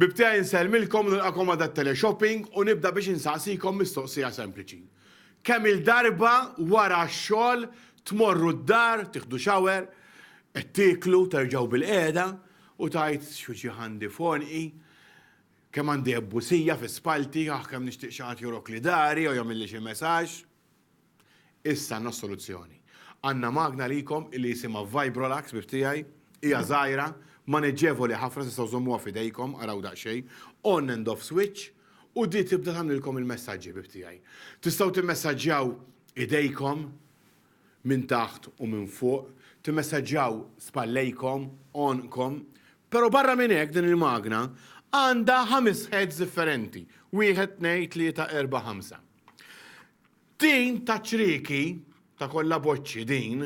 Bibtgħa insellmilkom u nilqakom għal dat-teleshopping u nibda biex insaqsikom mistoqsija sempliċi. Kemm-il darba wara x-xogħol tmorru d-dar, tieħdu shower, qed tieklu, terġgħu bilqiegħda u tgħid x'hu ġieħ għandi f'għonqi, kemm għandi ebbusija fi spallti, aħ kemm nixtieq xi ħadd joroqli dari jew jagħmilli xi messaġġ. Issa għandna s-soluzzjoni. Għandna magna għalikom li jisimha Vibrolax ħbib tiegħi. Hija żgħira, maneġġevoli ħafna tistgħu żommuha f'idejkom, araw daqsxejn, on and off switch, u di tibda tagħmlilkom il-messaġġi ħbib tiegħi. Tistgħu timmessaġġjaw idejkom minn taħt u minn fuq, timmessaġġjaw spallejkom, għonqkom, però barra minn hekk din il-magna għandha ħames heads differenti, wieħed, tnejn, tlieta, erbgħa, ħamsa. Din ta' ċrieki, ta' kollha boċċi din,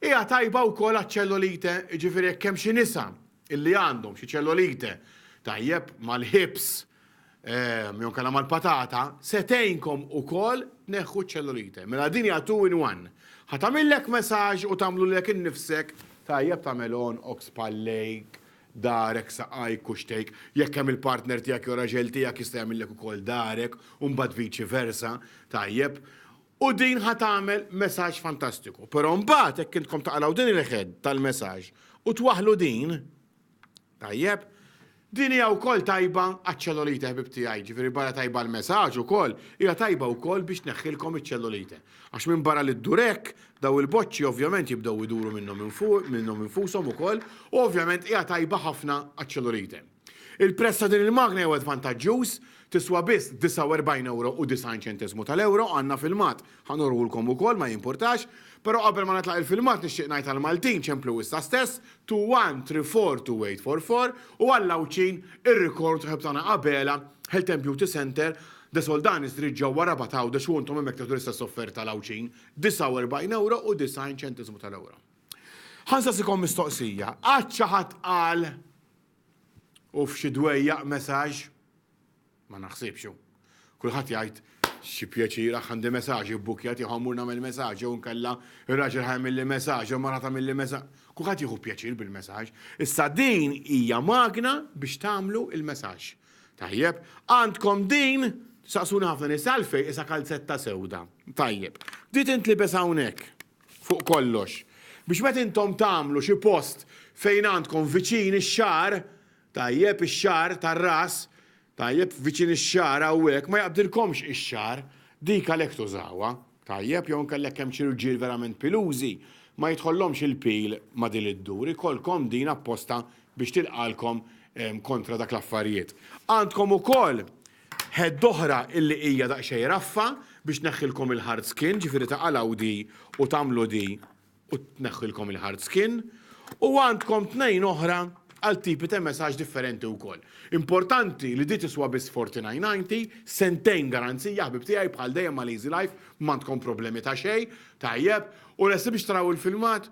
hija tajba wkoll għaċ-ċellulite, jiġifieri jekk hemm xi nisa illi għandhom xi ċellulite, tajjeb, mal-ħibs jew inkella mal-patata, se tgħinkom ukoll tneħħu ċ-ċellulite. Mela din hija two in one. Ħa tagħmillek massage u tagħmlu lilek innifsek, tajjeb ta' melon, ox pal-lake, darek, saqajk, kuxtejk, jekk hemm il-partner tiegħek jew raġel tiegħek jista' jagħmillek ukoll darek u mbagħad viċi versa, tajjeb. U din ħa tagħmel messaġġ fantastiku. Però mbagħad hekk intkom taqraw din il-head tal-messaġġ u twaħħlu din, tajjeb, din hija wkoll tajba għaċ-ċellulite ħbib tiegħi, ġifieri barra tajba l-messaġġ ukoll, hija tajba wkoll biex tneħħilkom iċ-ċellulite. Għax minbarra li ddur hekk, dawn il-boċċi ovvjament jibdew iduru minnhom infushom ukoll u ovvjament hija tajba ħafna għaċ-ċellulite. Il-prezz ta' din il-magna jew għed vantaġġuż, tiswa biss 49 ewro u 90 ċenteżmu tal-ewro, għandna filmat, ħa nurhulkom ukoll, ma jimpurtax, però qabel ma nitlaq il-filmat nixtieq ngħid għall-Maltin ċemplu issa stess, two one three four two eight four four u għall-Għawdxin ir-rekord ħabtana Abela Health and Beauty Centre The Soldanis trid ġewwa Rabat Għawdex u intom hemmhekk tieħdu l-istess offerta għal Għawdxin, 49 ewro u 90 ċentiżmu tal-ewro. Ħa nsaqsikom mistoqsija, qatt xi ħadd qal u f'xi dwejjaq messaġġ? Ma naħsibx hu. Kulħadd jgħid xi pjaċir aħ għandi messaġġ ibbukkjat jew ħammur nagħmel messaġġ jew nkella ir-raġel ħajmilli messaġġ jew mara tagħmilli messaġġ. Kulħadd jieħu pjaċir bil-messaġġ. Issa din hija magna biex tagħmlu il-messaġġ. Tajjeb. Għandkom din, saqsuni ħafna nies għalfejn qisha kalzetta sewda. Tajjeb. Di tintlibes hawnhekk, fuq kollox, biex meta intom tagħmlu xi post fejn għandkom viċin ix-xagħar, tajjeb, ix-xagħar tar-ras, tajjeb, viċin ix-xagħar hawnhekk, ma jaqbdilkomx ix-xagħar. Dik għalhekk tużawha. Tajjeb jew inkella jekk hemm xi rġiel verament pilużi, ma jidħollhomx il-pil ma' din iddur, ikollkom din apposta biex tilqagħlkom kontra dak l-affarijiet. Għandkom ukoll ħedd oħra illi hija daqsxejn raffa biex tneħħilkom il-hard skin, ġifieri taqalgħu di u tagħmlu di u tneħħilkom il-hard skin, u għandkom tnejn oħra għal tipi ta' messaġġ differenti wkoll. Importanti li di tiswa biss 49.90, sentejn garanzija ħbib tiegħi bħal dejjem ma' Lazy Life m'għandkom problemi ta' xejn, tajjeb, u lesti biex taraw il-filmat?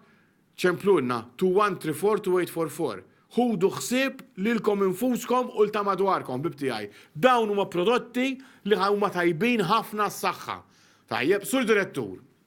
Ċemplulna 2134244. Ħudu ħsieb lilkom infuskom u 'l ta' madwarkom ħbib tiegħi. Dawn huma prodotti li huma tajbin ħafna għas-saħħa. Tajjeb, Sur Direttur,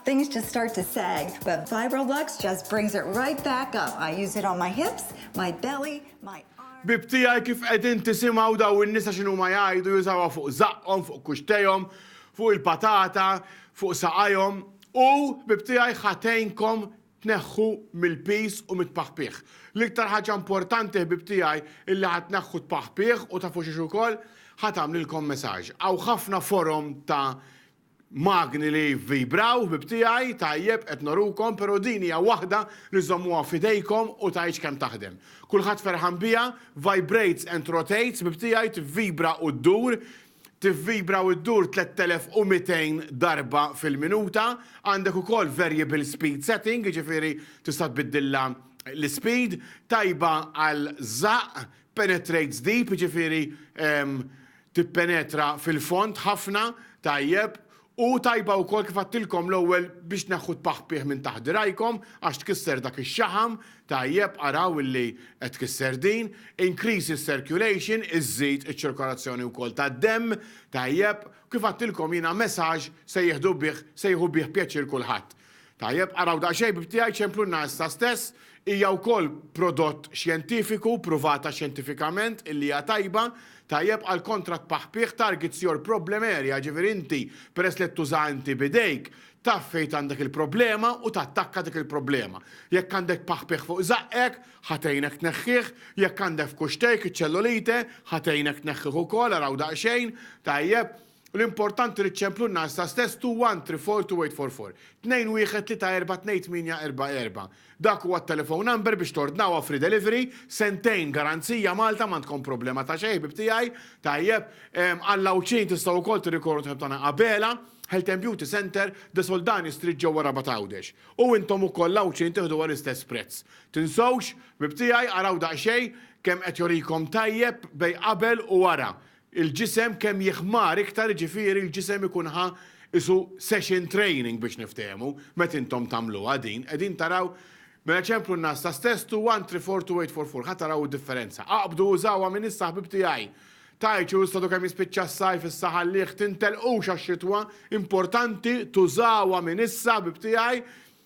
Things just start to sag, but Vibrolux just brings it right back up. I use it on my hips, my belly, my arms. Ħbieb tiegħi kif qegħdin tisimgħu daw in-nisa x'inhuma jgħidu jużawha fuq żaqqhom, fuq kuxtejhom, fuq il-patata, fuq saqajhom u, ħbieb tiegħi, ħa tgħinkom tneħħu mill-piż u mit-tpaħpiħ. L-iktar ħaġa importanti, ħbieb tiegħi, illi ħa tneħħu t-tpaħpiħ u tafu xiex ukoll, ħa tagħmlilkom massage. Hawn ħafna forom ta' magni li jivvibraw, ħbieb tiegħi, tajjeb, qed norukom, però din hija waħda li żommuha f'idejkom u tgħidx kemm taħdem. Kulħadd ferħan biha, vibrates and rotates, ħbieb tiegħi, tivvibra u ddur, tivvibra u ddur 3200 darba fil-minuta, għandek ukoll variable speed setting, jiġifieri tista' tbiddilha l-ispeed, tajba għal żaqq, penetrates deep, jiġifieri tippenetra fil-fond ħafna, tajjeb, u tajba wkoll kif għedtilkom l-ewwel biex tneħħu t-tpaħpih minn taħt dirgħajkom għax tkisser dak ix-xaħam, tajjeb, araw illi qed tkisser din, increases circulation, iżżid iċ-ċirkolazzjoni wkoll tad-demm, tajjeb, kif għedtilkom jiena message se jieħdu bih, se jieħu bih pjaċir kulħadd. Tajjeb, araw daqsxejn bib tiegħi ċemplunna issa stess, hija wkoll prodott xjentifiku, pruvata xjentifikament illi hija tajba, tajjeb għal kontra tpaħpigħ targets your problem area, ġifieri inti peress li qed tużaha inti b'idejk, taf fejn għandek il-problema u tattakka dik il-problema. Jekk għandek tpaħpigħ fuq żaqqek, ħa tgħinek tneħħih, jekk għandek f'kuxtejk iċ-ċellulite, ħa tgħinek tneħħih ukoll, araw daqsxejn, tajjeb, L-importanti li ċċemplu n-nar sa stess two one three four two eight four four. Tnejn wieħed tlieta erbgħa tnejn tmienja erbgħa erbgħa. Dak huwa t-telephone number biex tordnawha free delivery, sentejn garanzija Malta m'għandkom problema ta' xejn ħbieb tiegħi, tajjeb, għal l-Għawdxin tistgħu wkoll tirrikorru t-ħbieb tagħna Abela, Health and Beauty Centre, De Soldani Street ġewwa Rabat Għawdex. U intom ukoll l-Għawdxin tiħduha l-istess prezz. Tinsewx, ħbieb tiegħi, araw daqsxejn kemm qed jorikom tajjeb bejn qabel u wara. Il-ġisem kemm jiħmar iktar jiġifieri l-ġisem ikun ħa qisu session training biex niftehmu, meta intom tagħmluha din, qegħdin taraw Mela ċemplu n-nagħas ta' stess, two one three four two eight four four, ħa taraw id-differenza. Aqbdu użawha minn issa ħbib tiegħi. Tgħidx u stadu kemm jispiċċa s-sajf issa ħallih, tintelqux għax-xitwa, importanti tużawha minn issa ħbib tiegħi,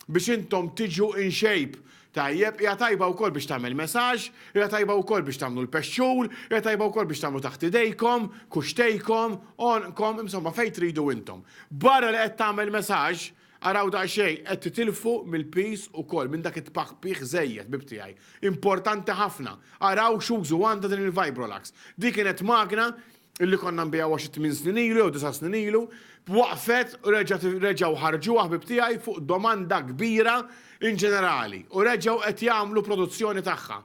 biex intom tiġu in shape. Tajjeb, hija tajba wkoll biex tagħmel massage, hija tajba wkoll biex tagħmlu l-pexxur, hija tajba wkoll biex tagħmlu taħt idejkom, kuxtejkom, għonqkom, insomma fejn tridu intom. Barra li qed tagħmel massage, araw daqsxejn, qed titilfu mill-piż ukoll, minn dak it-tpaħpih żejjed, ħbieb tiegħi. Importanti ħafna. Araw x'użu għandha din il-Vibrolax. Din kienet magna li konna nbigħuha xi tmien snin ilu jew disa' snin ilu, waqfet u reġgħu ħarġuha ħbieb tiegħi fuq domanda kbira inġenerali u reġgħu qed jagħmlu produzzjoni tagħha.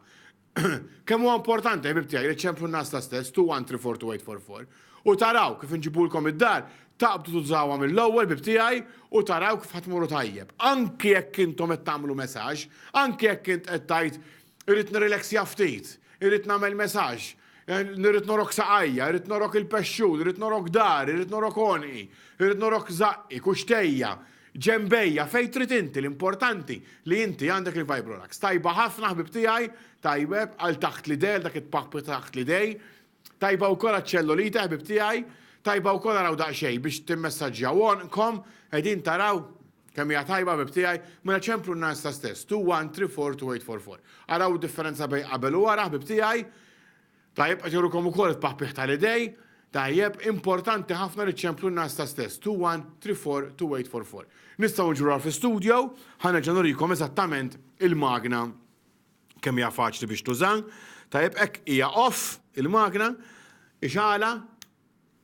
Kemm huwa importanti, ħbieb tiegħi, li ċċemplu n-nagħaż ta' stess, two one three four two eight four four, u taraw kif inġibulkom id-dar, taqbdu tużawha mill-ewwel, ħbieb tiegħi, u taraw kif ħa tmorru tajjeb. Anki jekk intom qed tagħmlu messaġġ, anki jekk int qed tgħid Irrid nirrileksja ftit, irrid nagħmel messaġġ, irrid norok saqajja, irrid norok il-pexxun, irrid norok dari, irrid norok għonqi, irrid norok żaqqi, kuxtejja, ġenbejja, fejn trid inti, l-importanti li inti għandek il-Vibrolax. Tajba ħafna ħbib tiegħi, tajjeb għal taħt l-idejja, għal dak it-tpappi taħt l-idej, Tajba wkoll għaċ-ċellulite ħbieb tiegħi, tajba wkoll araw daqsxejn biex timmessaġġjaw għonqkom, qegħdin taraw kemm hija tajba ħbieb tiegħi, mela ċemplu n-nagħasta stess, two one three four two eight four four. Araw id-differenza bejn qabel u wara ħbieb tiegħi. Tajjeb qed jurukom ukoll it-paħpiħ tal-idej, tajjeb importanti ħafna li ċemplu n-nagħasta stess, two one three four two eight four four. Nistgħu niġru fi studio, ħa nerġa' nurikom eżattament il-magna Kemm hija faċli biex tuża. Tajjeb hekk hija off il-magna, ixgħalha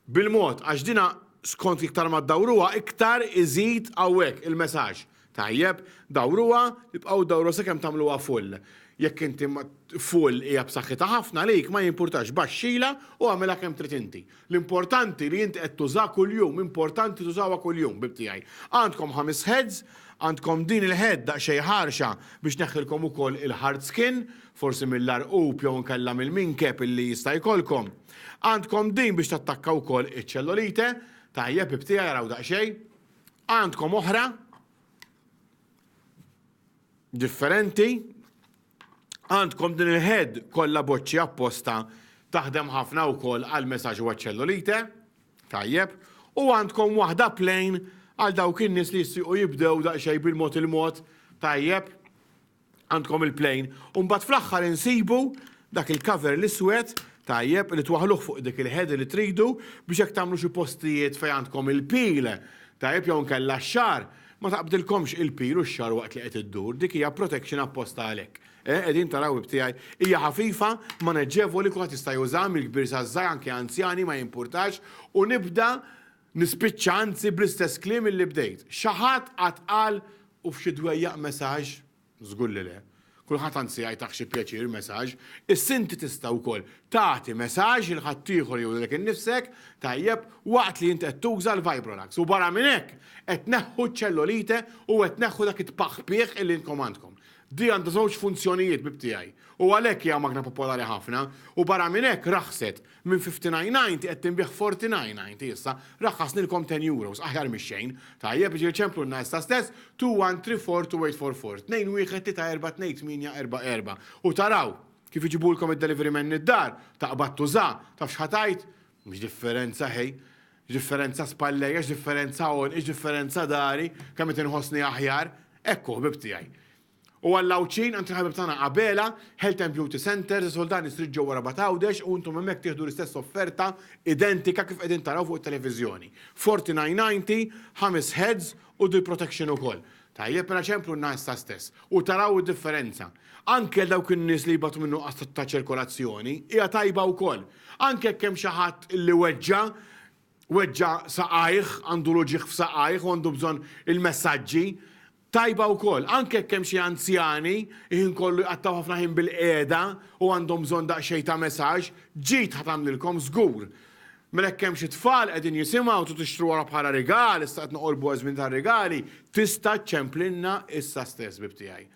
bil-mod għax dina skont iktar ma ddawruha iktar iżid hawnhekk il-mesaġġ. Tajjeb, dawruha, ibqgħu dawruha sakemm tagħmluha full. Jekk inti full hija b'saħħitha ħafna għalik ma jimpurtax baxxilha u agħmilha kemm trid inti. L-importanti li int qed tuża kuljum, importanti tużawha kuljum, bib tiegħi. Għandkom ħames heads, għandkom din il-head daqsxejn ħarxa biex tneħħilkom ukoll il-hard skin, forsi mill-għarqub jew inkella mill-minkeb illi jista' jkollkom. Għandkom din biex tattakka wkoll iċ-ċellolite, tajjeb bib tiegħi araw daqsxejn. Għandkom oħra differenti, Għandkom din il-head kollha boċċi apposta taħdem ħafna wkoll għal messaġġ u għaċ-ċellulite. Tajjeb. U għandkom waħda plain għal dawk in-nies li jistiequ jibdew daqsxejn bil-mod il-mod. Tajjeb. Għandkom il-plain. U mbagħad fl-aħħar insibu dak il-cover l-iswed tajjeb li twaħluh fuq dik il-head li tridu biex hekk tagħmlu xi postijiet fejn għandkom il-pil tajjeb jew nkella x-xar Ma taqbdilkomx il-pil u x-xagħar waqt li qed iddur, dik hija protection apposta għalhekk. Eh, qegħdin taraw ib tiegħi? Hija ħafifa, maneġġevoli, kulħadd jista' jużaha mill-kbir saż-żgħir anke anzjani ma jimpurtax u nibda nispiċċa anzi bl-istess kliem illi bdejt. Xi ħadd qatt qal, u f'xi dwejjaq messaġġ? Żgur li le. Kulħadd anzi jgħajtah xi pjaċir mesaġ. Issa inti tista' wkoll tagħti mesaġ lil ħaddieħor jew lilek innifsek, tajjeb, waqt li int qed tuża l-Vibrolax. U barra minn hekk, qed tneħħu ċ-ċellolite u qed tneħħu dak it-tpaħħpieħ illi intkom għandkom. Di għandha żewġ funzjonijiet bib tiegħi. U għalhekk hija magna popolari ħafna. U barra minn hekk raħset. Minn fifty nine ninety qed tinbiegħ forty nine ninety issa. Raqqasnilkom ten euros, aħjar mix-xejn. Tajjeb, ġieli ċemplunna issa stess, two one three four two eight four four, tnejn wieħed tlieta erbgħa tnejn tmienja erbgħa erbgħa. U taraw kif iġibulkom id-delivery man id-dar, taqbad tuża, taf x'ħa tgħid? X'differenza ħej? X'differenza spallejja, x'differenza għonqi, x'differenza dari, kemm qed inħossni aħjar. Hekk hu ħbieb tiegħi. U għall-Għawdxin, għand il-ħabib tagħna Abela, Health and Beauty Centres, is-Suldani Street ġewwa Rabat Għawdex u intom hemmhekk tieħdu l-istess offerta identika kif qegħdin taraw fuq it-televiżjoni. Forti 990, ħames heads u dil protection ukoll. Tajjeb mela ċemplunna issa stess u taraw id-differenza. Anke għal dawk in-nies li jbatu minn nuqqas ta' ċirkolazzjoni, hija tajba wkoll. Anke jekk hemm xi ħadd li weġġa', weġġa' saqajh, għandu l-uġigħ f'saqajh u għandu bżonn il-messaġġi, tajba wkoll. Anke jekk hemm xi anzjani il-ħin kollu jqattgħu ħafna ħin bil-qiegħda u għandhom bżonn daqsxejn ta' messaġġ, ġid ħa tagħmlilkom żgur. Mela jekk hemm xi tfal qegħdin jisimgħu trid tixtru wara bħala rigal, issa qed noqorbu ż-żmien tar-rigali, tista' ċċemplilna issa stess, ħbib tiegħi.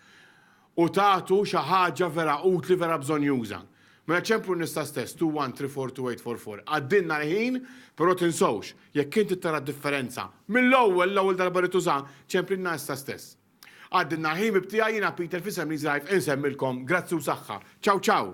u tagħtu xi ħaġa vera utli, vera bżonjuża. Mela ċemplu nisa stess, 2134244. Għaddilna l-ħin, però tinsewx, jekk inti tara d-differenza, mill-ewwel, l-ewwel darba li tuża, ċemplilna issa stess. Għaddilna l-ħin bib tiegħi jiena Peter f'isem Lee's Life insemmilkom grazzi u saħħa. Ciao ciao!